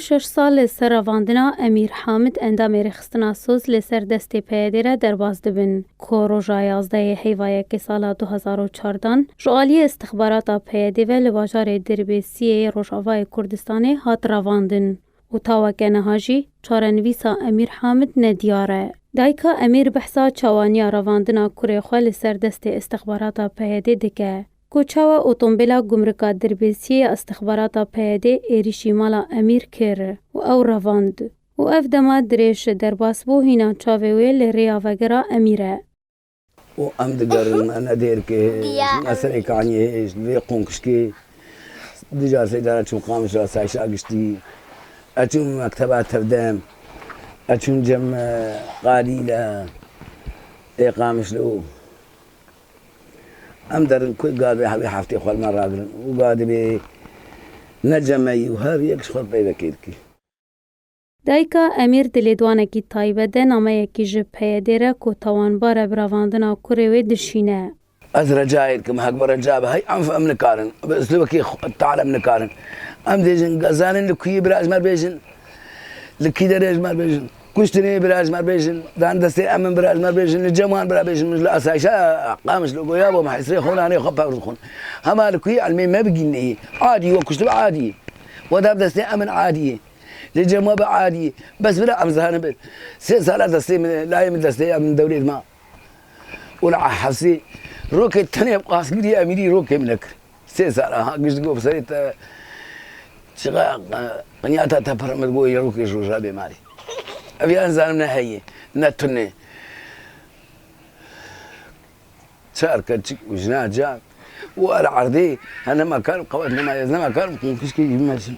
Şeş sal li ser revandina Emîr Hamid endamê Rêxistina Soz li ser destê PYD'ê re derbas dibin ku roja yazdeyê heyva yekê sala du hezar û çar dan ji aliyê îstixbarata PYD'ê ve li bajarê Dirbêsiyê yê Rojavayê Kurdistanê hat revandin û ta weke niha jî çarenivîsa Emîr Hamid ne diyar e. Dayika Emîr behsa çawaniya revandina kurê xwe li ser destê îstixbarata PYD'ê dike Ku çawa otombêla gumrika dirbêsiyê ya îstixbarata PYD'ê êrîşî mala Emîr kir û ew revand û ev dema dirêj derbas bû hîna çavê wê li rêya vegira Emîr e. Û em digerin me ne dêrkê me serê kaniyê hêj vê qûnqişkê ducar sêdara çûm qamişa seyşa giştî ez çûm mekteba tevdem ez çûm cem qadî le ê qamişlo. Em derin ku gavê hevî heftê xwe li me ragirin û ga divê ne cemeyî û her yek ji xwe peyvekê dike. Dayika Emîr di lêdwanekî taybet de nameyekî ji PYD'ê re ku tawanbar e bi ravandina kurê wê dişîne. Ez recayê dikim hek bi reca be hey enf em nikarin bi uslûbekî tal em nikarin em dê jin gezanin li kuyê birajmer bêjin li kî derê ji mer bêjin. Kuştinê bira ji me bêjin, dan destê emin bira ji me bêjin, li cem wan bira bêjin min ji li asayişa Qamiş li goya bom hesrê xwe û nanê xwe pewr dixwin. Hema li ku elmê me bigîn neyê. Adî we kuştibe adî. We da bi destê emin adî. Li cem we bi adî. Bes bira em zanibin. Sê sala destê min e, layê min destê ya min dewlêt ma. Û li a hesê rokê tenê bi qasgirî emîrî rokê min e kir. Sê sala ha giş digo bi serê te çiqa qinyata te pir min digo yê rokê Rojavê malê. Ev ya nizanim ne heyê ne tunê. Çar keçik û jina cak û ara erdê he nema kar bi qewet nema ez nema kar bi qûnqişkê jî mersim.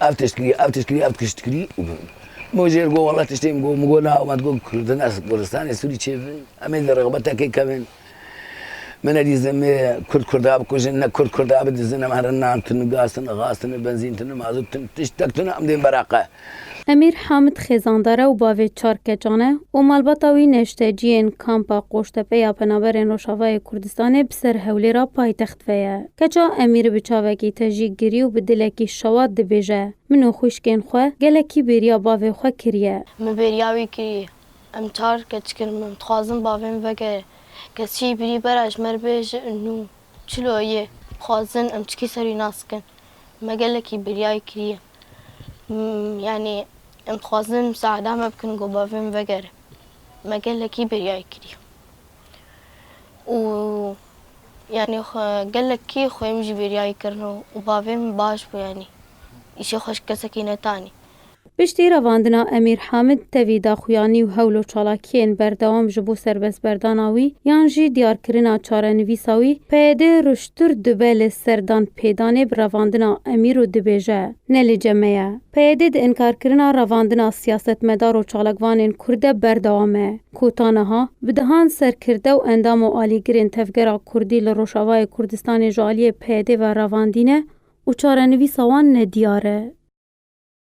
Ev tişt kirî, ev tişt kirî, ev tişt kirî. Min jê re got wela tiştê min got, min got na, min got Kurd in ez Kurdistanê Sûrî çêbin. Em ê li rexbetekê kevin. Min nedîzin me Kurd Kurda bikujin, ne Kurd Kurda bidizin. Em herin nan tune, gaz tune, xaz tune, benzîn tune, mazût tune, tiştek tune em dên bereqe. Emîr Hamid xêzandar e û bavê çar keçan e û malbata wî neşteciyên Kampa Qoştepe ya Penaberên Rojavayê Kurdistanê bi ser Hewlêra paytext ve ye. Keça Emîr bi çavekî tejî girî û bi dilekî şewat dibêje, Min û xwîşkên xwe gelekî bêriya bavê xwe kiriye. Min bêriya wî kirî. Em çar keçkin min. Dixwazim bavê min veke keçî birî bera ji me re bêje nû çilo yê. Dixwazin em çikî ser wî nas bikin. Me gelekî bêriya wî kirî. Yanî em dixwazin misada me bikin ku bavê min vegere. Me gelekî biryayê kirî. Û yanî gelekî xwe min jî biryayê kirin û bavê min baş bû yanî. Îşê xwe ji kesekî netanî. Piştî revandina Emîr Hamid tevî daxuyanî û hewl û çalakiyên berdewam ji bo serbestberdana wî yan jî diyarkirina çarenivîsa wî, PYD Tur dibe li ser danpêdanê bi revandina Emîr û dibêje, Ne li cem me ye. PYD di inkarkirina revandina siyasetmedar û çalakvanên Kurd de berdewam e, ku ta niha bi dehan serkirde û endam û alîgirên tevgera Kurdî li Rojavayê Kurdistanê ji aliyê PYD ve revandîne û çarenivîsa wan nediyar e.